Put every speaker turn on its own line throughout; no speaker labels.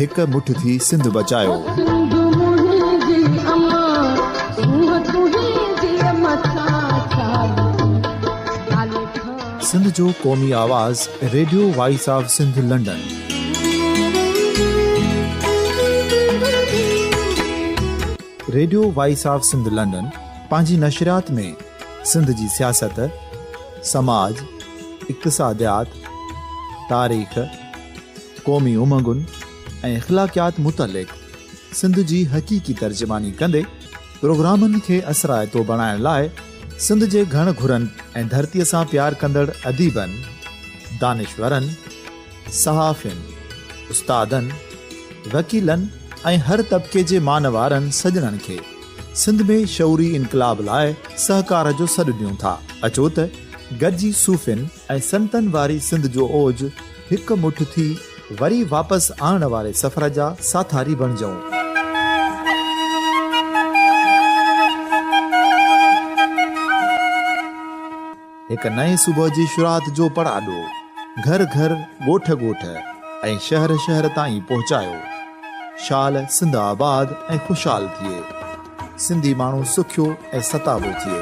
هڪ مٺ ٿي سنڌ
بچايوسنڌ جو قومي
آواز radio voice of Sindh London radio voice of Sindh London پنهنجي نشريات ۾ سنڌ جي سياست سماج اقتصاديات تاريخ قومي امنگن ۽ اخلاقيات متعلق سنڌ جي حقيقي ترجماني ڪندي پروگرامن کي اثرائتو بڻائڻ لاء سنڌ جي گهڻ گهرن ۽ ڌرتيء سان پيار ڪندڙ اديبن، دانشورن، صحافين، استادن، وڪيلن ۽ هر طبقي جي مان وارن سڄڻن کي سنڌ ۾ شعوري انقلاب لاء سهڪار جو سڏ ڏيون ٿا. اچو ته گڏجي صوفين، ۽ سنتن واري سنڌ جو اوج هڪ مٺ ٿي وري واپس آڻڻ واري سفر جا ساٿاري بڻجئون. هڪ نئين صبح جي شروعات جو پڙاڏو گهر گهر، ڳوٺ ڳوٺ ۽ شهر شهر تائين پهچايو. شال سنڌ آباد ۽ خوشحال ٿئي. سنڌي ماڻهو سکيو ۽ ستابو ٿئي.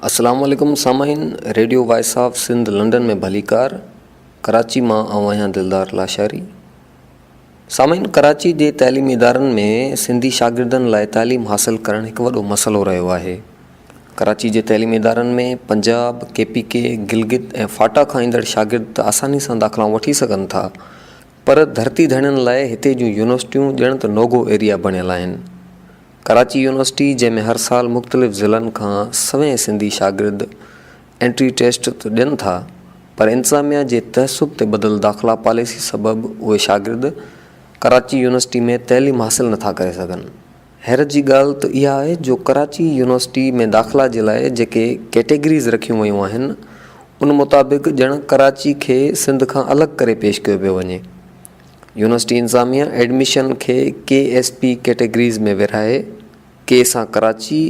السلام عليڪم سامعين radio voice of Sindh London ۾ ڀليڪار ڪراچي مان آئون آهيان دلدار لاشاري سامعين! ڪراچي جي تعليمي ادارن ۾ سنڌي شاگردن لاء تعليم حاصل ڪرڻ هڪ وڏو مسئلو رهيو آهي. ڪراچي جي تعليمي ادارن ۾ Punjab, K P K, Gilgit ۽ FATA کان ايندڙ شاگرد ته آساني سان داخلائون وٺي سگهن ٿا پر ڌرتي ڌڻين لاء هتي جون يونيورسٽيون ڄڻ ته نوگو ايريا بڻيل آهن. ڪراچي يونيورسٽي جنهن ۾ هر سال مختلف ضلعن کان سوين سنڌي شاگرد انٽري ٽيسٽ ته ڏين ٿا پر انتظاميا جي تعصب تي ٻڌل داخلا پاليسي سبب اهي شاگرد ڪراچي يونيورسٽي ۾ تعليم حاصل نه ٿا ڪري سگهن. حيرت جي ڳالهه ته اها آهي جو ڪراچي يونيورسٽي ۾ داخلا جي لاء جيڪي ڪيٽيگريز رکيون ويون آهن ان مطابق ڄڻ ڪراچي کي سنڌ کان الڳ ڪري پيش ڪيو پيو وڃي. يونيورسٽي انتظاميا ايڊميشن کي ڪي ايس پي ڪيٽيگريز ۾ ورهائي ڪي سان ڪراچي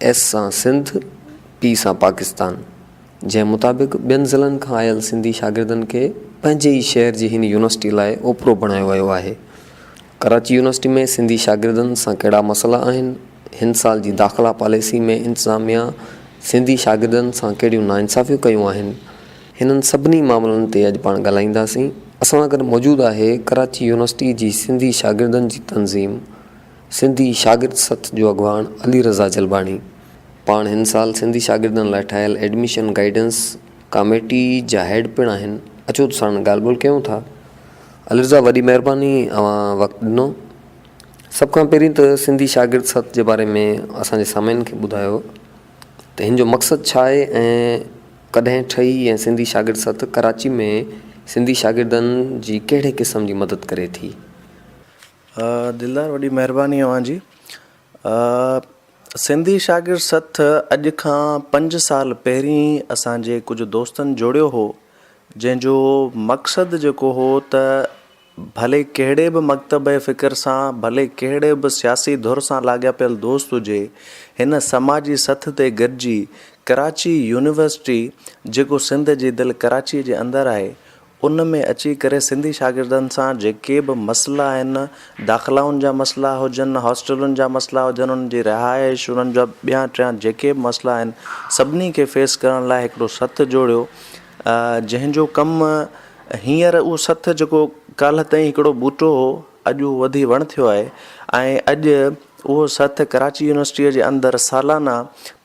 ايس سان سنڌ، پي سان پاڪستان، جنهن مطابق ٻين ضلعن کان آيل سنڌي شاگردن کي پنهنجي ئي شهر جي هن يونيورسٽي لاء اوپرو بڻايو ويو آهي. ڪراچي يونيورسٽي ۾ سنڌي شاگردن سان ڪهڙا مسئلا آهن، هن سال جي داخلا پاليسي ۾ انتظاميا سنڌي شاگردن سان ڪهڙيون ناانصافيون ڪيون آهن، هنن سڀني معاملن تي اڄ پاڻ ڳالهائينداسين، اسان سان گڏ موجود آهي ڪراچي يونيورسٽي جي سنڌي شاگردن جي تنظيم. سنڌي شاگرد سٿ جو اڳواڻ علي رضا جلباڻي پاڻ هن سال سنڌي شاگردن لاء ٺاهيل ايڊميشن گائيڊنس ڪاميٽي جا هيڊ پڻ آهن اچو ته ساڻن ڳالهه ٻولهه ڪيون ٿا علي رضا وڏي مهرباني اوهان وقت ڏنو سڀ کان پهرين ته سنڌي شاگرد سٿ جي باري ۾ اسان جي سامعين کي ٻڌايو ته هن جو مقصد ڇا آهي ۽ ڪڏهن ٺهي ۽ سنڌي شاگرد سٿ ڪراچي ۾ سنڌي شاگردن جي ڪهڙي قسم جي مدد ڪري ٿي.
دلدار وڏي مهرباني اوهان جي. سنڌي شاگرد سٿ اڄ کان پنج سال پهرين اسان جي ڪجهه دوستن جوڙيو هو جنهن جو مقصد جيڪو هو ته ڀلي ڪهڙي به مڪتب فڪر سان ڀلي ڪهڙي به سياسي ڌر سان لاڳاپيل دوست هجي هن سماجي سٿ تي گڏجي ڪراچي يونيورسٽي جيڪو سنڌ جي دل ڪراچي جي اندر آهي ان ۾ اچي ڪري سنڌي شاگردن سان جيڪي به مسئلا آهن، داخلائن جا مسئلا هجن، هاسٽلن جا مسئلا هجن، انهن جي رهائش، انهن جا ٻيا ٽيا جيڪي به مسئلا آهن، سڀني کي فيس ڪرڻ لاء هڪڙو سٿ جوڙيو، جنهن جو ڪم هينئر اهو سٿ جيڪو ڪالهه تائين هڪڙو ٻوٽو هو، اڄ اهو وڌي وڻ ٿيو آهي ۽ اڄ اهو سٿ ڪراچي يونيورسٽيء جي اندر سالانه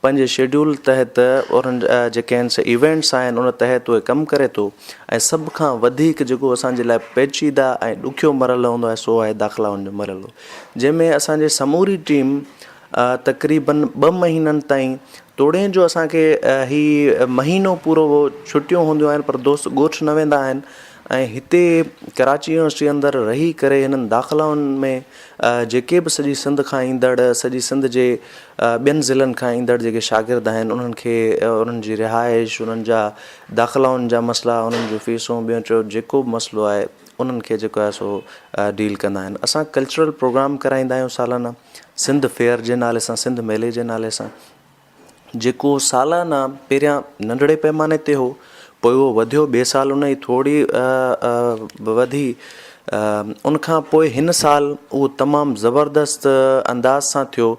پنهنجي شيڊيول تحت انهن جيڪي آهن سي ايونٽس آهن ان تحت اهي ڪم ڪري ٿو ۽ سڀ کان وڌيڪ جيڪو اسان جي لاء پيچيده ۽ ڏکيو مرحلو هوندو آهي سو آهي داخلائن جو مرحلو جنهن ۾ اسان جي سموري ٽيم تقريبن ٻه مهينن تائين توڙي جو اسان کي هي مهينو پورو ڇٽيون هونديون آهن پر دوست ڳوٺ نه ويندا آهن ۽ هتي ڪراچي يونيورسٽي اندر رهي ڪري هنن داخلائن ۾ جيڪي به سڄي سنڌ کان ايندڙ سڄي سنڌ جي ٻين ضلعن کان ايندڙ جيڪي شاگرد آهن انهن کي انهن جي رهائش انهن جا داخلائن جا مسئلا انهن جون فيسون ٻيو چيو جيڪو به مسئلو آهي انهن کي جيڪو آهي سو ڊيل ڪندا آهن اسان ڪلچرل پروگرام ڪرائيندا آهيون سالانه سنڌ فيئر جي نالي سان سنڌ ميلي جي نالي سان جيڪو سالانه پهريان ننڍڙي پئماني تي هو، پوء اهو وڌيو، ٻئي سال ان جي ٿوري وڌي، ان کان پوء هن سال اهو تمام زبردست انداز سان ٿيو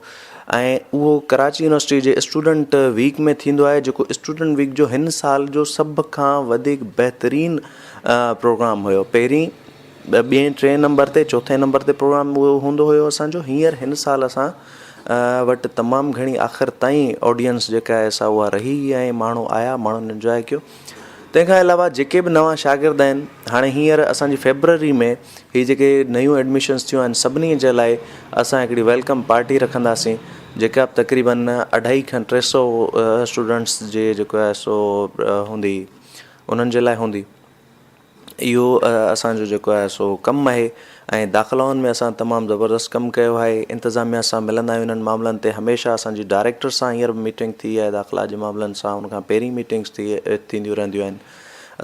۽ اهو ڪراچي يونيورسٽي جي اسٽوڊنٽ ويڪ ۾ ٿيندو آهي، جيڪو اسٽوڊنٽ ويڪ جو هن سال جو سڀ کان وڌيڪ بهترين پروگرام هيو، پهرين. ٻئين ٽئين نمبر تي چوٿين نمبر تي پروگرام هوندو هيو اسان جو هينئر هن سال اسان وٽ تمام گهڻي آخر تائين آڊينس جيڪا آهي سا اها رهي ۽ ماڻهو آيا ماڻهن انجوائي ڪيو تنهن کان علاوه جيڪي به نوان شاگرد آهن هاڻي هينئر اسان جي فيبرري ۾ هي جيڪي نيون ايڊمشنس ٿيون آهن سڀني جي لاء اسان هڪڙي ويلڪم پارٽي رکنداسين جيڪا به تقريبن اڍائي کن ٽي سو اسٽوڊنٽس جي جيڪو آهي سو هوندي انهن جي لاء هوندي اهو اسان جو جيڪو آهي سو ڪم آهي ۽ داخلائن ۾ اسان تمام زبردست ڪم ڪيو آهي انتظاميا سان ملندا آهيون انهن معاملن تي هميشه اسان جي ڊائريڪٽر سان هينئر به ميٽنگ ٿي آهي داخلا جي معاملن سان ان کان پهرين ميٽنگس ٿي ٿينديون رهنديون آهن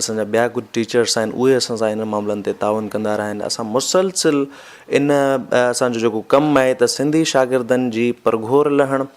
اسان جا ٻيا ڪجهه ٽيچرس آهن اهي اسان سان انهن معاملن تي تعاون ڪندا رهيا آهن اسان مسلسل ان اسان جو جيڪو ڪم آهي ته سنڌي شاگردن جي پرگهور لهڻ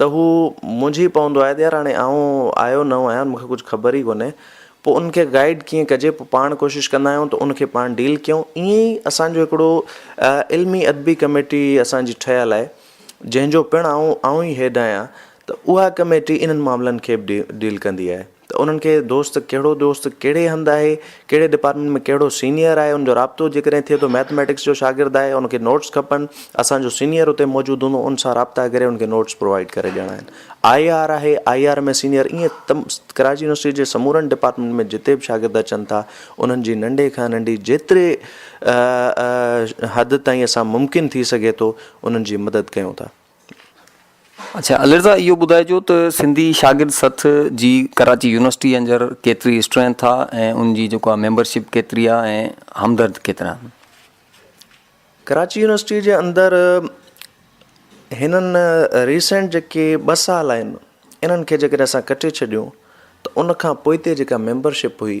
ته هو منجهي پوندو آهي ته يار هاڻي آئون آيو نئون آهيان مون کي ڪجهه خبر ئي ڪونهي پوء ان کي گائيڊ ڪيئن ڪجي پوء پاڻ ڪوشش ڪندا آهيون ته ان کي پاڻ ڊيل ڪيون ائين ئي اسانجو هڪڙو علمي ادبي ڪميٽي اسانجي ٺهيل آهي جنهنجو پڻ آئون آئون ئي هيڊ آهيان ته اها ڪميٽي انهن معاملن کي به ڊيل ڪندي آهي ته انهن کي دوست ڪهڙو دوست ڪهڙي هنڌ آهي، ڪهڙي ڊپارٽمينٽ ۾ ڪهڙو سينيئر آهي ان جو رابطو جيڪڏهن ٿئي ٿو ميٿميٽڪس جو شاگرد آهي ان کي نوٽس کپن اسان جو سينيئر اتي موجود هوندو ان سان رابطا ڪري ان کي نوٽس پرووائيڊ ڪري ڏيڻا آهن آئي آر آهي آئي آر ۾ سينيئر ائين تم ڪراچي يونيورسٽي جي سمورن ڊپارٽمينٽ ۾ جتي به شاگرد اچن ٿا انهن جي ننڍي کان ننڍي جيتري حد تائين اسان ممڪن ٿي سگهي ٿو انهن جي مدد ڪيون ٿا
اڇا علي رضا اهو ٻڌائجو ته سنڌي شاگرد سٿ جي ڪراچي يونيورسٽي اندر ڪيتري اسٽرينٿ آ ۽ ان جي جيڪو آ ميمبرشپ ڪيتري آ ۽ همدرد ڪيترا آهن.
ڪراچي يونيورسٽي جي اندر هنن ريسينٽ جيڪي ٻه سال آهن انهن کي جيڪڏهن اسان ڪٽي ڇڏيون ته ان کان پوئتي جيڪا ميمبرشپ هئي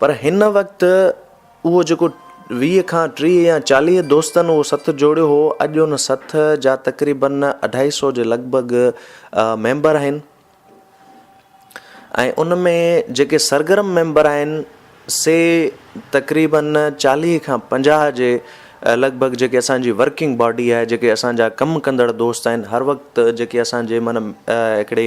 پر هن وقت اهو جيڪو ويهه کان ٽيهه يا چاليهه دوستن اهو سٿ جوڙيو هو، اڄ ان سٿ جا تقريبن اڍائي سئو جي لڳ ڀڳ ميمبر آهن ۽ ان ۾ جيڪي سرگرم ميمبر آهن سي تقريبن چاليهه کان پنجاهه جي لڳ ڀڳ جيڪي اسان جي ورڪنگ باڊي آهي جيڪي اسان جا ڪم ڪندڙ دوست آهن هر وقت جيڪي اسان جي معنيٰ هڪڙي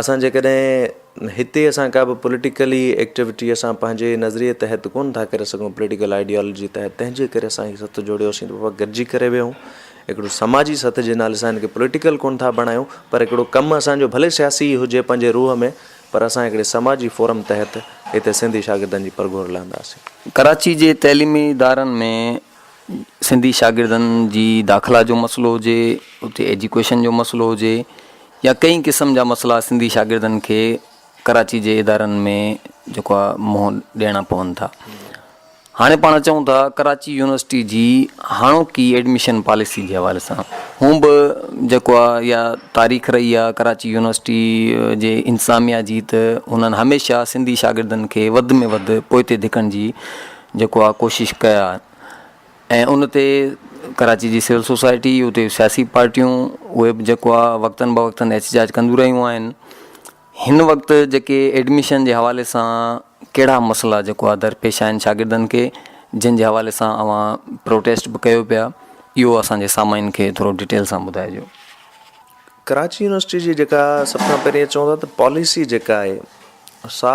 اسان جيڪڏهن هتي اسان ڪا به پوليٽيڪلي ايڪٽيوٽي اسان پنهنجي نظريي تحت ڪونه ٿا ڪري سگهون پوليٽيڪل آئيڊيالوجي تحت تنهن جي ڪري اسان هي سٿ جوڙيو سين ته گڏجي ڪري ويهون هڪڙو سماجي سٿ جي نالي سان هن کي پوليٽيڪل ڪونه ٿا بڻايون پر هڪڙو ڪم اسان جو ڀلي سياسي هجي پنهنجي روح ۾ پر اسان هڪڙي سماجي فورم تحت هتي سنڌي شاگردن جي پرگهور لهنداسين. ڪراچي جي تعليمي
ادارن ۾ سنڌي شاگردن جي داخلا جو مسئلو هجي اتي ايجوڪيشن جو مسئلو هجي يا ڪئين قسم جا مسئلا سنڌي شاگردن کي ڪراچي جي ادارن ۾ جيڪو آ منهن ڏيڻا پون ٿا هاڻي پاڻ چون ٿا ڪراچي يونيورسٽي جي هاڻوڪي ايڊميشن پاليسي جي حوالي سان هون به جيڪو آ يا تاريخ رهي آ ڪراچي يونيورسٽي جي انتظاميا جي ته هنن هميشه سنڌي شاگردن کي وڌ ۾ وڌ پوئتي ڌڪڻ جي جيڪو آء ڪوشش ڪيا ۽ ان تي ڪراچي جي سول سوسائٽي اتي سياسي پارٽيون اهي به جيڪو آء وقتن به وقتن احتجاج ڪنديون رهيون آهن هن وقت جيڪي ايڊميشن جي حوالي سان ڪهڙا مسئلا جيڪو آء درپيش آهن شاگردن کي جن جي حوالي سان اوهان پروٽيسٽ به ڪيو پيا اهو اسانجي سامعين کي ٿورو ڊيٽيل سان ٻڌائجو.
ڪراچي يونيورسٽي جي جيڪا سڀ کان پهرين چون ٿا ته پاليسي جيڪا آهي سا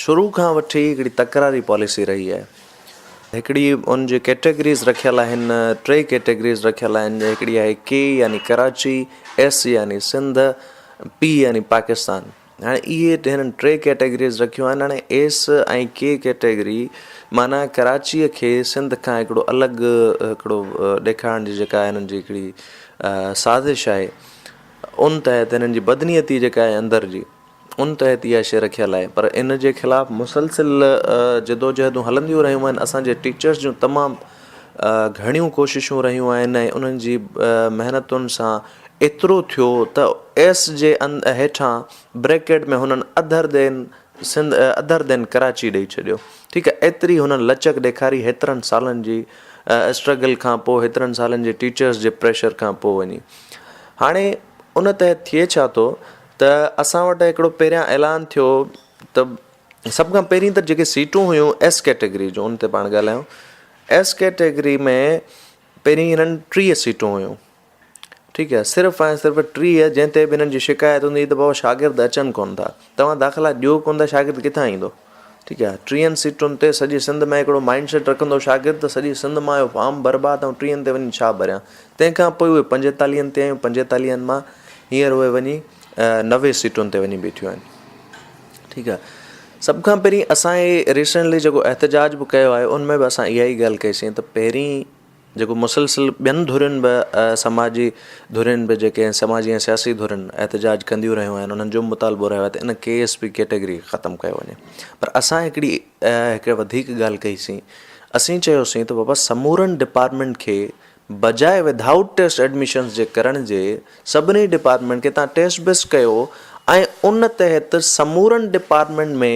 شروع کان وٺي هڪڙي تڪراري پاليسي رهي آهي هڪڙي ان جي ڪيٽيگريز رکيل آهن ٽي ڪيٽيگريز رکيل آهن هڪڙي آهي ڪي يعني ڪراچي ايس يعني سنڌ پي يعني پاڪستان هاڻي اهي هنن ٽي ڪيٽيگريز رکيون آهن هاڻي ايس ۽ ڪي ڪيٽيگري معنيٰ ڪراچيء کي سنڌ کان هڪڙو الڳ هڪڙو ڏيکارڻ جي جيڪا هنن جي هڪڙي سازش آهي ان تحت هنن جي بدنيتي جيڪا آهي اندر جي ان تحت اها شي رکيل آهي پر ان جي خلاف مسلسل جدوجهدون هلنديون رهيون آهن اسانجي ٽيچرس جون تمام گهڻيون ڪوششون رهيون آهن ۽ انهن جي محنتن سان ايترو ٿيو ته ايس جي هيٺان بريڪيٽ ۾ هنن اڌر دين سنڌ اڌر دين ڪراچي ڏئي ڇڏيو ٺيڪ آهي ايتري هنن لچڪ ڏيکاري هيترن سالن جي اسٽرگل کان پوء هيترن سالن جي ٽيچرس جي پريشر کان پوء وڃي هاڻي ان تحت ٿئي ڇا ٿو ته اسان وٽ هڪڙو پهريان اعلان ٿيو ته سڀ کان پهرين ته جيڪي سيٽون هيون ايس ڪيٽيگري جون ان تي پاڻ ڳالهايون ايس ڪيٽيگري ۾ پهرين هنن ٽيهه سيٽون هيون ٺيڪ آهي صرف ۽ صرف ٽيهه جنهن تي به هنن جي شڪايت هوندي هئي ته بابا شاگرد اچن ڪون ٿا تون داخلا ڏيو ڪون ٿا شاگرد ڪٿان ايندو ٺيڪ آهي ٽيهن سيٽن تي سڄي سنڌ ۾ هڪڙو مائنڊ سيٽ رکندو شاگرد ته سڄي سنڌ مان اهو فارم برباد آئون ٽيهن تي وڃي ڇا ڀريان تنهن کان پوء اهي پنجيتاليهن تي آيون پنجيتاليهن مان هينئر اهي وڃي نوي سيٽن تي وڃي بيٺيون آهن ٺيڪ آهي سڀ کان پهرين اسان هي ريسنٽلي جيڪو احتجاج به ڪيو آهي ان ۾ به اسان اها ئي ڳالهه ڪئي سين ته پهرين جيڪو مسلسل ٻين ڌرين به سماجي ڌرين به جيڪي سماجي ۽ سياسي ڌرين احتجاج ڪنديون رهيون آهن انهن جو به مطالبو رهيو آهي ته ان ڪي ايس پي ڪيٽيگري کي ختم ڪيو وڃي پر اسان هڪڙي هڪ وڌيڪ ڳالهه ڪئي سين اسين چيوسين ته بابا سمورن ڊپارٽمينٽ کي بجاء ود آئوٽ ٽيسٽ ايڊميشنس جي ڪرڻ جي سڀني ڊپارٽمينٽ کي تان ٽيسٽ بيسٽ ڪيو ۽ ان تحت سمورن ڊپارٽمينٽ ۾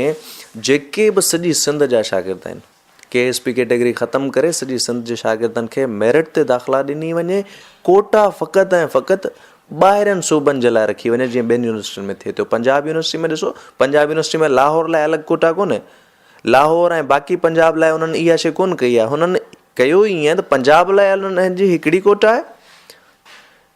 جيڪي به سڄي سنڌ جا شاگرد آهن ڪي ايس پي ڪيٽيگري ختم ڪري سڄي سنڌ جي شاگردن کي ميرٽ تي داخلا ڏني وڃي، ڪوٽا فقط ۽ فقط ٻاهرين صوبن جي لاء رکي وڃي جيئن ٻين يونيورسٽين ۾ ٿئي ٿو، پنجاب يونيورسٽي ۾ ڏسو پنجاب يونيورسٽي ۾ لاهور لاء الڳ ڪوٽا ڪونهي، لاهور ۽ باقي پنجاب لاء انهن اها شيء ڪونه ڪئي آهي، هنن ڪيو ئي ايئن ته پنجاب لاء انهن جي هڪڙي ڪوٽا آهي.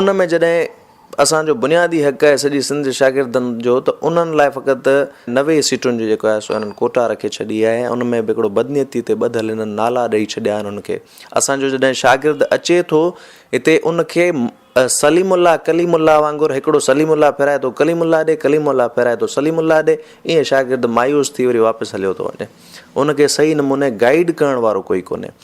ان ۾ جڏهن اسان جو بنيادي حق آهي سڄي سنڌ جي شاگردن جو ته انهن لاء فقط نوي سيٽن جو جيڪو آهي سو انهن ڪوٽا رکي ڇڏي آهي ۽ ان ۾ به هڪڙو بدنيتي تي ٻڌل انهن نالا ڏئي ڇڏيا آهن انهن کي اسان جو جڏهن شاگرد اچي ٿو هتي ان کي سليم الله ڪليم الله وانگر هڪڙو سليم الله ڦيرائي ٿو ڪليم الله ڏي ڪليم الله ڦيرائي ٿو سليم الله ڏي ائين شاگرد مايوس ٿي وري واپس هليو ٿو وڃي ان کي صحيح نموني گائيڊ ڪرڻ وارو ڪوئي ڪونهي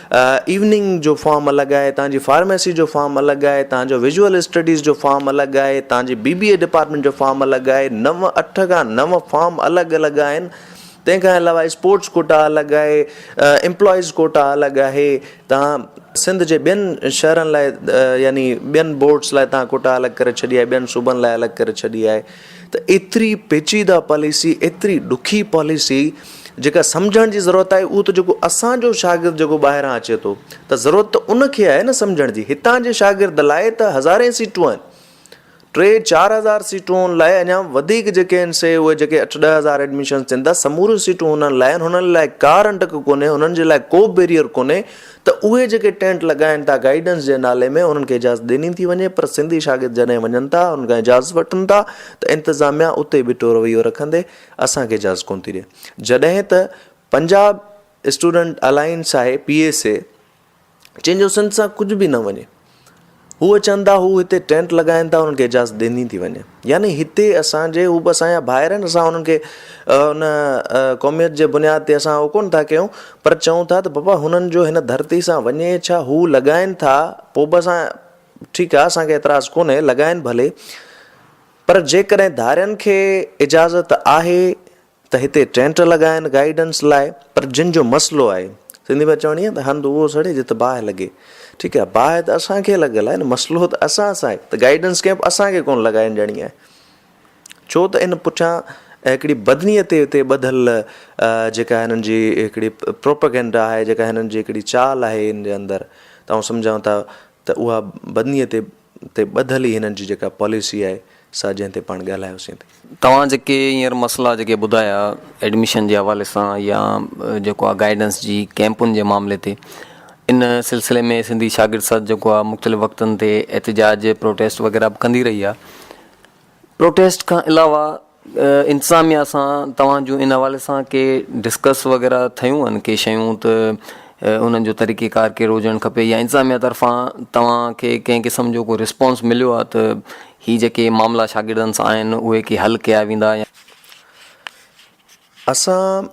ايوننگ جو فارم الڳ آهي، توهان جي فارميسي جو فارم الڳ آهي، توهان جو ويزوئل اسٽڊيز جو فارم الڳ آهي، توهان جي بي بي اي ڊپارٽمينٽ جو فارم الڳ آهي، نو اٺ کان نو فارم الڳ الڳ آهن، تنهن کان علاوه اسپورٽس ڪوٽا الڳ آهي، امپلائيز ڪوٽا الڳ آهي، توهان سنڌ جي ٻين شهرن لاء يعني ٻين بورڊس لاء توهان ڪوٽا الڳ ڪري ڇڏي آهي، ٻين صوبن لاء الڳ ڪري ڇڏي آهي. ته ايتري پيچيده پاليسي، ايتري ڏکي پاليسي جيڪا سمجهڻ جي ضرورت آهي اهو ته جيڪو اسان جو شاگرد جيڪو ٻاهران اچي ٿو ته ضرورت ته ان کي آهي نه سمجهڻ جي، هتان جي شاگرد لاء ته هزارين سيٽون آهن، ٽي چار هزار سيٽون لاء اڃا وڌيڪ جيڪي آهن سي اهي جيڪي اٺ ڏهه هزار ايڊميشنز ٿين ٿا سموريون سيٽون هنن لاء آهن، هنن لاء ڪا رنڊڪ ڪونهي، هنن جي لاء ڪو بيريئر ڪونهي. ته اهي جيڪي ٽينٽ لڳائين ٿا گائيڊنس جي نالي ۾ انهن کي اجازت ڏني ٿي وڃي پر سنڌي شاگرد جڏهن وڃن ٿا انهن کان اجازت وٺن ٿا ته انتظاميا اتي بيٺو رويو رکندي اسان کي اجازت ڪونه ٿي ڏي جڏهن ته پنجاب اسٽوڊنٽ الائنس آهي پي ايس اي جنهن جو سنڌ سان ڪجهه به نه وڃي. هو اچن ٿا، هو هتي ٽينٽ لڳائين ٿا، انهن کي اجازت ڏني ٿي وڃي. يعني هتي اسان جي، هو به اسان جا ڀائر آهن، اسان انهن کي ان قوميت جي بنياد تي اسان اهو ڪونه ٿا ڪيون، پر چئون ٿا ته بابا هنن جو هن ڌرتي سان وڃي ڇا، هو لڳائين ٿا، پوء به اسان ٺيڪ آهي، اسان کي اعتراض ڪونهي، لڳائين ڀلي، پر جيڪڏهن ڌارين کي اجازت آهي ته هتي ٽينٽ لڳا آهن گائيڊنس لاء پر جن جو مسئلو آهي سنڌي ۾ چوڻي آهي ته هنڌ اهو سڙي جت باهه لڳي ٺيڪ آهي باهه ته اسان کي لڳل آهي نه مسئلو ته اسان سان آهي ته گائيڊنس ڪئمپ اسان کي ڪونه لڳائڻ ڏيڻي آهي ڇو ته ان پٺيان هڪڙي بدني تي هتي ٻڌل جيڪا هنن جي هڪڙي پروپگنڊا آهي جيڪا هنن جي هڪڙي چال آهي ان جي اندر ته آئون سمجهان ٿا ته اها بدني تي تي ٻڌل ئي هنن جي جيڪا پاليسي آهي سا جنهن تي پاڻ ڳالهايوسين تي. توهان جيڪي
هينئر مسئلا جيڪي ٻڌايا ايڊميشن جي حوالي سان يا جيڪو آ گائيڊنس جي ڪيمپن جي معاملي تي ان سلسلي ۾ سنڌي شاگرد سڌ جيڪو آ مختلف وقتن تي احتجاج پروٽيسٽ وغيره به ڪندي رهي آ پروٽيسٽ کان علاوه انتظاميا سان توهان جون ان حوالي سان ڪي ڊسڪس وغيره ٿيون هن ڪي شيون ته انهن جو طريقي ڪار ڪهڙو هجڻ کپي يا انتظاميا طرفان توهان کي ڪنهن قسم جو ڪو رسپانس مليو آهي ته هي جيڪي معاملا شاگردن سان آهن اهي ڪي حل ڪيا ويندا يا
اسان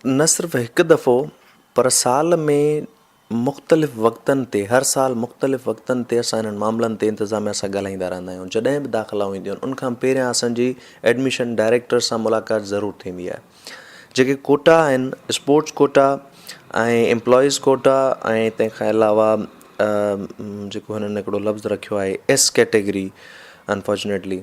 نه صرف هڪ دفعو پر سال ۾ مختلف وقتن تي هر سال مختلف وقتن تي اسان انهن معاملن تي انتظاميا سان ڳالهائيندا رهندا آهيون جڏهن به داخلائون اينديون آهن ان کان پهريان اسان جي ايڊميشن ڊائريڪٽر سان ملاقات ضرور ٿيندي آهي جيڪي ڪوٽا آهن اسپورٽس ڪوٽا ۽ امپلائيز ڪوٽا ۽ تنهن کان علاوه جيڪو هنن هڪڙو لفظ رکيو آهي S category unfortunately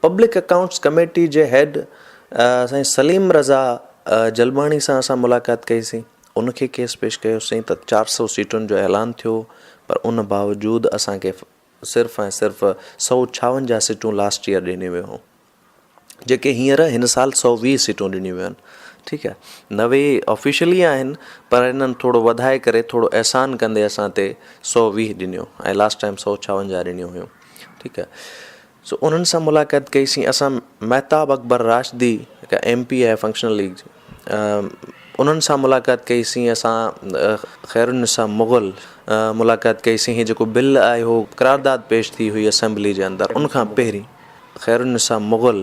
public accounts committee جي هيڊ سائين سليم رضا جلباڻي سان اسان ملاقات ڪئي سين ان کي ڪيس پيش ڪيو سين ته چار سو سيٽن جو اعلان ٿيو پر ان باوجود اسان کي صرف ۽ صرف سؤ ڇاونجاهه سيٽون لاسٽ ايئر ڏنيون ويون هيون جيڪي هينئر هن سال سؤ ويهه سيٽون ڏنيون ويون آهن ٺيڪ آهي نوي آفيشلي آهن پر انهن ٿورو وڌائي ڪري ٿورو احسان ڪندي اسان تي سؤ ويهه ڏنيون ۽ لاسٽ ٽائم سؤ ڇاونجاهه ڏنيون هيون ٺيڪ آهي سو انهن سان ملاقات ڪئي سين اسان مهتاب اڪبر راشدي جيڪا ايم پي آهي فنڪشنل ليگ جي انهن سان ملاقات ڪئي سين اسان خير النساء مغل ملاقات ڪئي سين هي جيڪو بل آيو هو قرارداد پيش ٿي هئي اسيمبلي جي اندر ان کان پهرين خير النساء مغل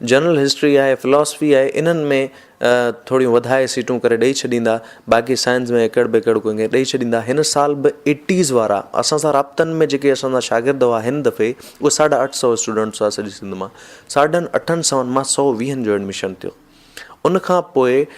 جنرل هسٽري آهي، فلاسفي آهي، انهن ۾ ٿوريون وڌائي سيٽون ڪري ڏئي ڇڏيندا، باقي سائنس ۾ ايڪڙ ٻيڪڙ ڪنهن کي ڏئي ڇڏيندا، هن سال به ايٽيز وارا اسان سان رابطن ۾ جيڪي اسان سان شاگرد هئا هن دفعي اهي ساڍا اٺ سؤ اسٽوڊنٽس هئا سڄي سنڌ مان ساڍن اٺن سؤن مان سؤ ويهن جو ايڊمشن ٿيو ان کان پوء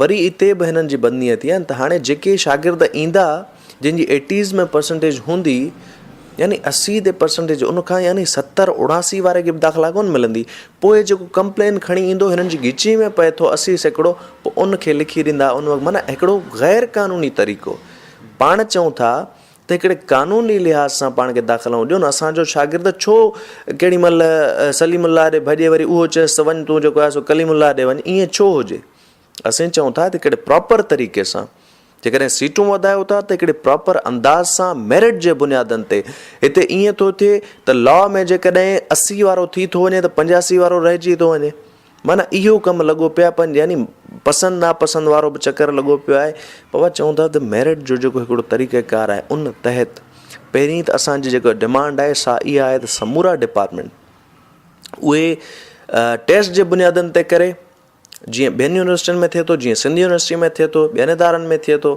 وري اتي به هنن جي بدنيتي آهن ته هاڻي جيڪي شاگرد ايندا جن جي ايٽيز ۾ پرسنٽيج هوندي يعني اسي تي پرسنٽيج ان کان يعني ستر اوڻاسي واري کي به داخلا ڪون ملندي پوء جيڪو ڪمپلين کڻي ايندو هنن جي ڳچي ۾ پئي ٿو اسي سيڪڙو پوء ان کي لکي ڏيندا ان وقت معنيٰ هڪڙو غير قانوني طريقو پاڻ چئون ٿا ته هڪڙي قانوني لحاظ سان پاڻ کي داخلا ڏيو نه اسان جو شاگرد ڇو ڪهڙي مهل سليم الله ڏي ڀڄي وري اهو چيس ته وڃ تون جيڪو آهي سو ڪليم الله ڏي وڃ ائين ڇو هجي اسين چئون ٿا ته هڪڙي پراپر طريقي سان جيڪڏهن سيٽون وڌايو ٿا ته هڪڙي پراپر انداز سان ميرٽ جي بنيادن تي هتي ائين ٿو ٿئي ته لا ۾ جيڪڏهن اسي وارو ٿي ٿو وڃي ته پنجاسي وارو رهجي ٿو وڃي معنيٰ اهو ڪم لڳو پيو آهي يعني پسند ناپسند وارو به چڪر لڳو پيو آهي بابا چئون ٿا ته ميرٽ جو جيڪو هڪڙو طريقه ڪار آهي ان تحت پهرين ته اسان جي جيڪا ڊمانڊ آهي سا اها آهي ته سمورا ڊپارٽمنٽ اهي ٽيسٽ جي بنيادن تي ڪري جيئن ٻين يونيورسٽين ۾ ٿئي ٿو جيئن سنڌ يونيورسٽي ۾ ٿئي ٿو ٻين ادارن ۾ ٿئي ٿو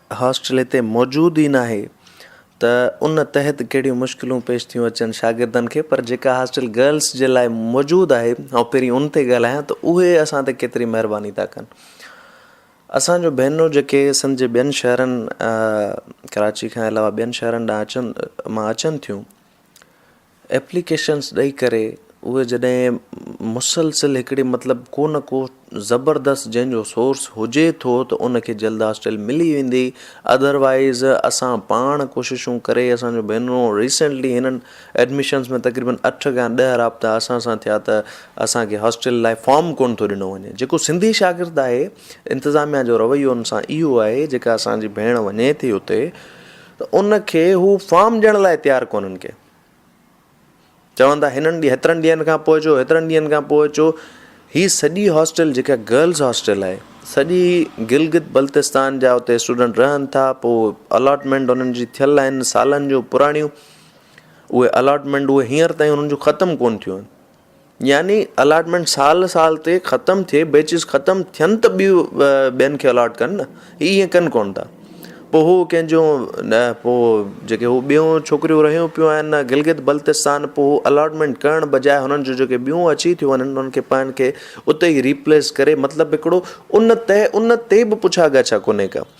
هاسٽل هتي موجود ئي ناهي ته ان تحت ڪهڙيون مشڪلون پيش ٿيون اچن شاگردن کي پر جيڪا هاسٽل گرلس جي لاء موجود آهي آئون پهرين ان تي ڳالهايان ته اهي اسان تي ڪيتري مهرباني ٿا ڪن اسان جو ڀينرون جيڪي سنڌ جي ٻين شهرن ڪراچي کان علاوه ٻين شهرن ڏانهن اچن مان اچن ٿيون ايپليڪيشنز ڏئي ڪري اهي جڏهن مسلسل هڪڙي مطلب ڪو نه ڪو زبردست جنهن جو سورس هجي ٿو ته ان کي جلد از جلد ملي ويندي اڌر وائيز اسان پاڻ ڪوششون ڪري اسان جو ڀينرو ريسينٽلي هنن ايڊميشنز ۾ تقريبن اٺ کان ڏهه رابطا اسان سان ٿيا ته اسان کي هاسٽل لاء فارم ڪونه ٿو ڏنو وڃي جيڪو سنڌي شاگرد آهي انتظاميا جو رويو ان سان اهو آهي جيڪا اسان جي ڀيڻ وڃي ٿي اتي ته ان کي هو فارم ڏيڻ لاء تيار ڪونهن ڪي چون ٿا هنن هيترن ڏينهن کان پوء اچو هيترن ڏينهن کان پوء اچو هي سڄي هاسٽل جيڪا گرلز هاسٽل آهي سڄي گلگت بلتستان جا اتي اسٽوڊنٽ رهن ٿا پوء الاٽمنٽ انهن جي ٿيل آهن سالن جو پراڻيون اهي الاٽمنٽ اهي هينئر تائين انهن جون ختم ڪون ٿيون آهن يعني الاٽمينٽ سال سال تي ختم ٿئي بيچز ختم ٿين ته ٻيو ٻين کي الاٽ ڪن نه هي ائين ڪن ڪون ٿا پوء هو ڪنهنجو نه پوء جيڪي هو ٻيون ڇوڪريون رهيون پيون آهن نه گلگت بلتستان پوء هو الاٽمينٽ ڪرڻ بجاء هنن جو جيڪي ٻيون اچي ٿيون وڃن انهن کي پاڻ کي اتي ئي ريپليس ڪري مطلب هڪڙو ان تي ان تي به پڇا ڳاڇا ڪونهي ڪا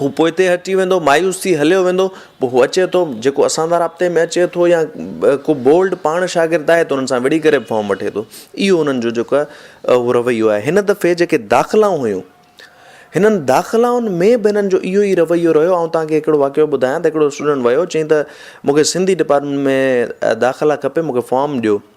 هو پوئتي هٽي ويندو، مايوس ٿي هليو ويندو، پوء هو اچي ٿو، جيڪو اسان سان رابطي ۾ اچي ٿو يا ڪو بولڊ پاڻ شاگرد آهي ته انهن سان وڙهي ڪري به فارم وٺي ٿو، اهو انهن جو جيڪو اهو رويو آهي، هن دفعي جيڪي داخلائون هيون، هنن داخلائن ۾ به هنن جو اهو ئي رويو رهيو، آئون توهان کي هڪڙو واقعو ٻڌايان ته هڪڙو اسٽوڊنٽ ويو چيائين ته مون کي سنڌي ڊپارٽمينٽ ۾ داخلا کپي مون کي فارم ڏيو،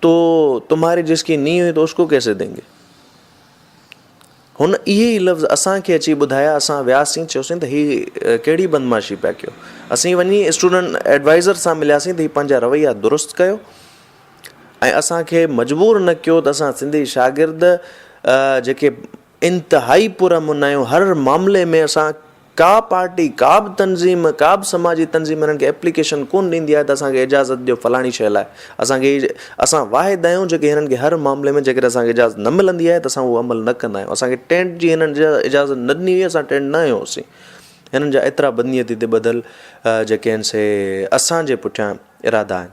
تو تمھاري جس ڪي نھين ھئي تو اس ڪو ڪيسي دين گي. ھن اھي ئي لفظ اسان کي اچي ٻڌايا اسان وياسين چيوسين ته ھي ڪھڙي بدمعاشي پيا ڪيو. اسين وڃي اسٽوڊنٽ ايڊوائيزر سان ملياسين ته ھي پنھنجا رويا درست ڪيو ۽ اسان کي مجبور نه ڪيو ته اسان سنڌي شاگرد جيڪي انتهائي پر امن آهيون، هر معاملي ۾ اسان ڪا پارٽي ڪا به تنظيم ڪا به سماجي تنظيم انهن کي ايپليڪيشن ڪونه ڏيندي آهي ته اسان کي اجازت ڏيو فلاڻي شيء لاء اسان کي اسان واحد آهيون جيڪي هنن کي هر معاملي ۾ جيڪڏهن اسان کي اجازت نه ملندي آهي ته اسان اهو عمل نه ڪندا آهيون اسان کي ٽينٽ جي هنن اجازت نه ڏني هئي اسان ٽينٽ نه هنيو هوسي هنن جا ايترا بدنيتي تي ٻڌل جيڪي آهن سي اسان جي پٺيان ارادا آهن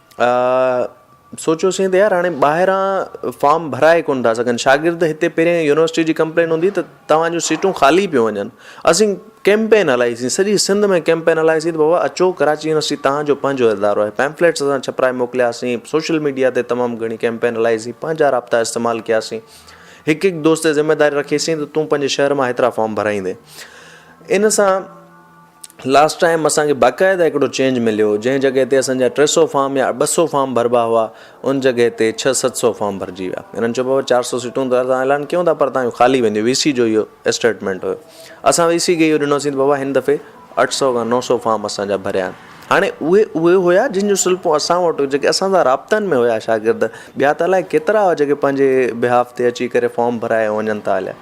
آء سوچيوسين ته يار هاڻي ٻاهران فارم ڀرائي ڪونه ٿا سگهن شاگرد هتي پهرين يونيورسٽي جي ڪمپلين هوندي ته توهان جون سيٽون خالي پيون وڃن اسين ڪيمپين هلائيسين سڄي سنڌ ۾ ڪيمپين هلائيسين ته بابا اچو ڪراچي يونيورسٽي توهان جو پنهنجو ادارو آهي پيمفليٽس اسان ڇپرائي موڪلياسين سوشل ميڊيا تي تمام گهڻي ڪيمپين هلائيسين پنهنجا رابطا استعمال ڪياسين هڪ هڪ دوست تي ذميواري رکيسين ته تون پنهنجي شهر مان هيترا فارم ڀرائيندين ان سان لاسٽ ٽائيم اسان کي باقاعده هڪڙو چينج مليو جنهن جڳهه تي اسان جا ٽي سئو فارم يا ٻه سئو فارم ڀربا هئا ان جڳهه تي ڇهه ست سئو فارم ڀرجي ويا هنن چيو بابا چار سئو سيٽون ته اسان اعلان ڪيون ٿا پر تهان جون خالي وينديون وي سي جو اهو اسٽيٽمينٽ هيو اسان وي سي کي اهو ڏنوسين ته بابا هن دفعي اٺ سئو کان نو سئو فارم اسان جا ڀريا آهن هاڻي اهي اهي هيا جن جون سلپون اسان وٽ جيڪي اسان سان رابطن ۾ هيا شاگرد ٻيا ته الائي ڪيترا هئا جيڪي پنهنجي بهاف تي اچي ڪري فارم ڀرائي ائون وڃن ٿا هليا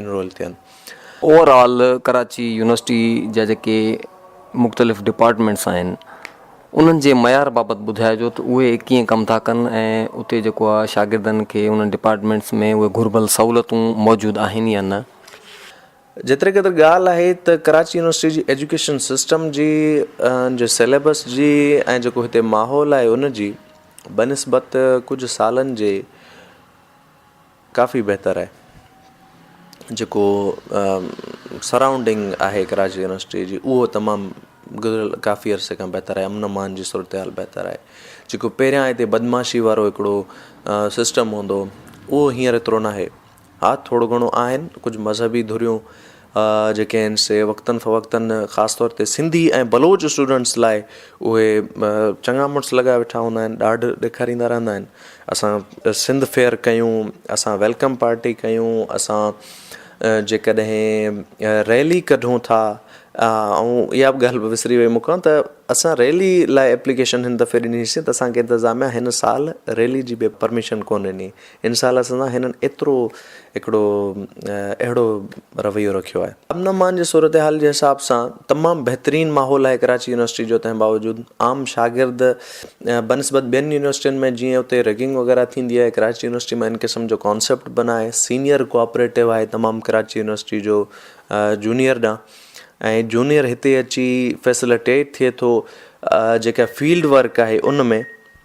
انرول ٿين. اوور آل
ڪراچي يونيورسٽي جا جيڪي مختلف ڊپارٽمينٽس آهن انهن جي معيار بابت ٻڌائجو ته اهي ڪيئن ڪم ٿا ڪن ۽ اتي جيڪو آهي شاگردن کي انهن ڊپارٽمينٽس ۾ اهي گهربل سهولتون موجود آهن يا نه. جيتري
قدر ڳالهه آهي ته ڪراچي يونيورسٽي جي ايجوڪيشن سسٽم جي ان جي سيليبس جي ۽ جيڪو هتي ماحول آهي ان جي بنسبت ڪجهه سالن جي ڪافي بهتر آهي جيڪو سرائونڊنگ آهي ڪراچي يونيورسٽي جي اهو تمام گذريل ڪافي عرصي کان بهتر آهي امن امان جي صورتحال بهتر آهي جيڪو پهريان هتي بدمعاشي وارو هڪڙو سسٽم هوندو هو اهو هينئر ايترو ناهي ها ٿورو گهڻو آهن ڪجهه مذهبي ڌريون جيڪي آهن سي وقتن فوقتن خاص طور تي سنڌي ۽ بلوچ اسٽوڊنٽس لاء اهي چڱا مڙس لڳايا ويٺا هوندا آهن ڏاڍ ڏيکاريندا رهندا آهن اسان سنڌ فيئر ڪيون اسان ويلڪم پارٽي ڪيون اسان جيڪڏهن ريلي ڪڍون ٿا آئون اها بि ڳالهه وسري ويم مکان ته اسان ريلي لاء ايپليڪيشن هن دفعي ڏنيسي ته اسانکي انتظاميا هن سال ريلي جي به پرميشن ڪونه ڏني ان سال سندان هنن ايترو هڪڙو اهڙو رويو رکيو آهي. امن امان جي صورتحال جي حساب سان تمام بهترين ماحول آهي ڪراچي يونيورسٽي جو تنهن باوجود عام شاگرد بنسبت ٻين يونيورسٽين ۾ جيئن اتي ريگنگ وغيره ٿيندي آهي ڪراچي يونيورسٽي مان ان قسم جو ڪانسيپٽ به ناهي سينيئر ڪوآپريٽو آهي تمام ڪراچي يونيورسٽي جو جونيئر ڏانهن ۽ جونيئر هتي اچي فيسلٽيٽ ٿئي ٿو جيڪا فيلڊ ورڪ آهي ان ۾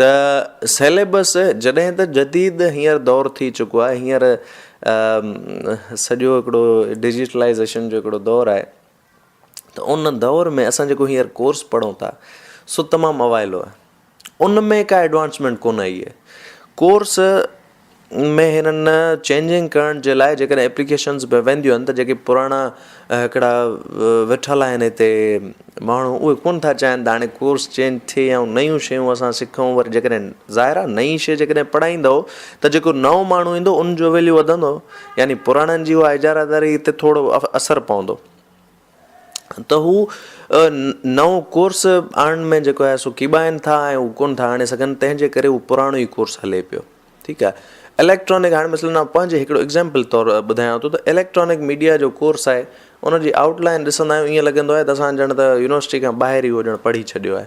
ته سيليبس جڏهن ته جديد هينئر دور ٿي چڪو آهي هينئر سڄو هڪڙو ڊجيٽلائيزيشن جو هڪڙو دور آهي ته ان دور ۾ اسان جيڪو هينئر ڪورس پڙهون ٿا سو تمام اوائلو آهي ان ۾ ڪا ايڊوانسمينٽ ڪونه آئي آهي ڪورس ۾ هنن چينجنگ ڪرڻ جي لاء جيڪڏهن ايپليڪيشنز به وينديون آهن ته جيڪي پراڻا هڪڙا ويٺل آهن هتي ماڻهو اهي ڪونه ٿا چاهين ته هاڻي ڪورس چينج ٿئي يا نيون شيون اسان سکون وري جيڪڏهن ظاهر آهي نئي شيء جيڪڏهن پڙهائيندو ته جيڪو نئون ماڻهو ايندو ان جو ويليو وڌندو يعني پراڻن جي اها اجاره داري تي ٿورو اثر پوندو ته هو نئون ڪورس آڻڻ ۾ جيڪو آهي سو ڪيٻائن ٿا ۽ هو ڪونه ٿا آڻي سگهن تنهن جي ڪري هو پراڻو ئي ڪورس هلي پيو ٺيڪ آهي اليڪٽرانڪ هاڻي مثلاً آئون پنهنجي هڪڙو ايگزامپل طور ٻڌايان ٿو ته اليڪٽرانڪ ميڊيا جو ڪورس آهي ان جي آئوٽ لائن ڏسندا آهيون ائين لڳندو آهي ته اسان ڄڻ ته يونيورسٽي کان ٻاهر ئي هو ڄڻ پڙهي ڇڏيو آهي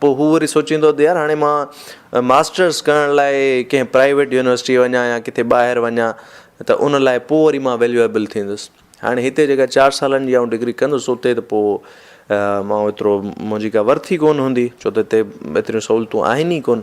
پوء هو وري سوچيندو ته يار هاڻي مان ماسٽرس ڪرڻ لاء ڪنهن پرائيويٽ يونيورسٽيء وڃان يا ڪٿي ٻاهر وڃان ته ان لاء پوء وري مان ويليوئيبل ٿيندس. هاڻي هتي جيڪا چار سالن جي آئون ڊگري ڪندس اتي ته پوء مان ايترو منهنجي ڪا ورٿ ئي ڪونه هوندي ڇو ته هتي ايتريون سهولتون آهن ئي ڪونه.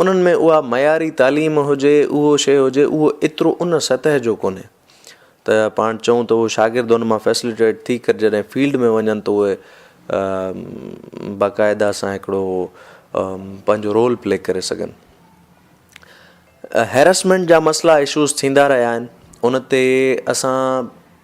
انهن ۾ اها معياري تعليم هجي، اهو شيء هجي، اهو ايترو ان سطح جو ڪونهي ته پاڻ چئون ته اهو شاگرد ان مان فيسليٽيٽ ٿي ڪري جڏهن فيلڊ ۾ وڃن ته اهي باقاعده سان هڪڙو پنهنجو رول پلي ڪري سگهن. هيراسمينٽ جا مسئلا اشوز ٿيندا رهيا آهن ان تي اسان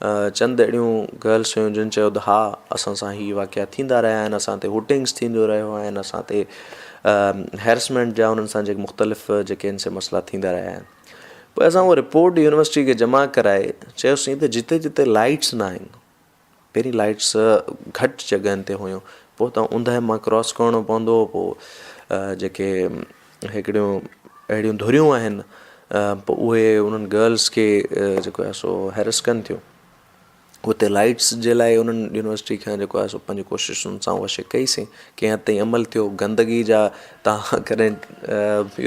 چند اهڙيون گرلس هيون جن چيو ته ها اسان سان هي واقعا ٿيندا رهيا آهن اسان تي هوٽنگس ٿينديون رهيو آهن اسان تي هيرسمينٽ جا انهن سان جيڪي مختلف جيڪي ان سي مسئلا ٿيندا رهيا آهن پوء اسان هو رپورٽ يونيورسٽي کي جمع ڪرائي چيوسين ته جتي جتي لائٽس نه آهن پهرين لائٽس گهٽ جڳهن تي هيون پوء تان اوندهه مان ڪراس ڪرڻو پوندو هو پوء جيڪي هڪڙيون اهڙيون ڌريون آهن پوء اهي انهن گرلس کي جيڪو آهي سو هيرس ڪن ٿيون اتي لائٽس جي لاء انهن يونيورسٽي کان جيڪو آهي سو پنهنجي ڪوششن سان اها شي ڪئي سين ڪنهن حد تائين عمل ٿيو گندگي جا تها ڪڏهن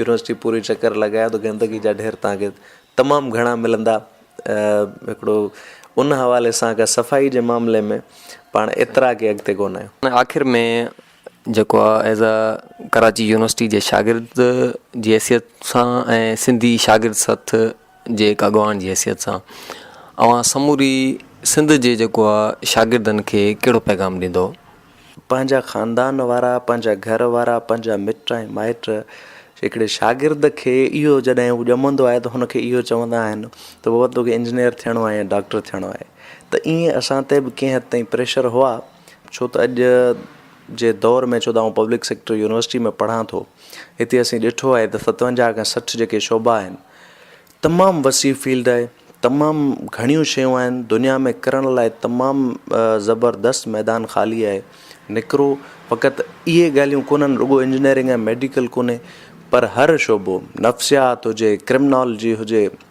يونيورسٽي پوري چڪر لڳايو ته گندگي جا ڍير تهانکي تمام گهڻا ملندا هڪڙو ان حوالي سان صفائي جي معاملي ۾ پاڻ ايترا اڳي اڳتي ڪونه آهيون آخر ۾
جيڪو uh as a Karachi university جي شاگرد جي حيثيت سان ۽ سنڌي شاگرد سٿ جي هڪ اڳواڻ جي حيثيت سان اوهان سموري سنڌ جي جيڪو آ شاگردن کي ڪهڙو پيغام ڏيندو پنهنجا
خاندان وارا پنهنجا گهر وارا پنهنجا مٽ ۽ مائٽ هڪڙي شاگرد کي اهو جڏهن هو ڄمندو آهي ته هن کي اهو چوندا آهن ته بابا توکي انجنيئر ٿيڻو آهي يا ڊاڪٽر ٿيڻو آهي ته ايئن اسان تي به ڪنهن حد تائين پريشر هئا ڇو ته اڄ جي دور ۾ ڇو ته آئون پبلڪ سيڪٽر يونيورسٽي ۾ پڙهان ٿو هتي اسين ڏٺو آهي ته ستونجاهه کان سٺ جيڪي شعبا آهن تمام وسيع فيلڊ آهي تمام گهڻيون شيون آهن دنيا ۾ ڪرڻ لاء تمام زبردست ميدان خالي آهي نڪرو فقط اهي ڳالهيون ڪونهن رڳو انجنيئرنگ ۽ ميڊيڪل ڪونهي پر هر شعبو نفسيات هجي ڪرمنالجي هجي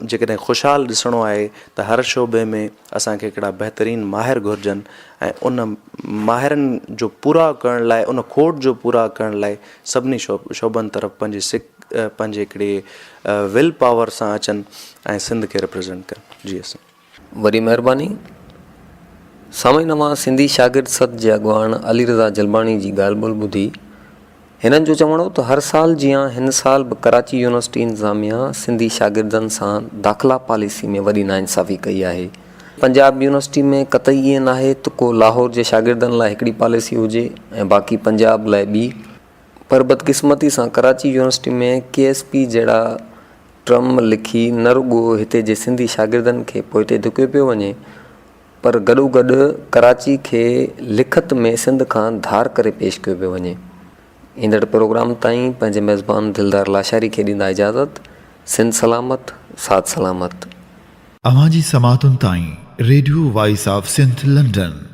جيڪڏهن خوشحال ڏسڻو آهي ته هر شعبي ۾ اسان کي هڪڙا بهترين ماهر گهرجن ۽ ان ماهرن جو پورا ڪرڻ لاء ان کوٽ جو پورا ڪرڻ لاء سڀني شعبن طرف پنهنجي سک پنهنجي هڪڙي ول پاور سان اچن ۽ سنڌ کي ريپريزنٽ ڪن جي اسان وڏي مهرباني.
سامعين اوهان سنڌي شاگرد سڌ جي اڳواڻ علي رضا جلباڻي جي ڳالهه ٻولهه ٻڌي. هنن جو چوڻ هو ته هر سال جيان هن سال به ڪراچي يونيورسٽي انتظاميا سنڌي شاگردن سان داخلا پاليسي ۾ وڏي ناانصافي ڪئي آهي. پنجاب يونيورسٽي ۾ قطعي ائين ناهي ته ڪو لاهور جي شاگردن لاء هڪڙي پاليسي هجي ۽ باقي پنجاب لاء ٻي. پر بدقسمتي سان Karachi university ۾ K S P جهڙا ٽرم لکي نه رڳو هتي جي سنڌي شاگردن کي پوئتي ڌڪيو پيو وڃي پر گڏوگڏ ڪراچي کي لکت ۾ سنڌ کان ڌار ڪري پيش ڪيو پيو وڃي. ايندڙ پروگرام تائين پنهنجي ميزبان دلدار لاشاري کي ڏيندا اجازت. سنڌ سلامت، ساڌ سلامت.
اوهان جي سماعتن تائين
radio
voice of Sindh London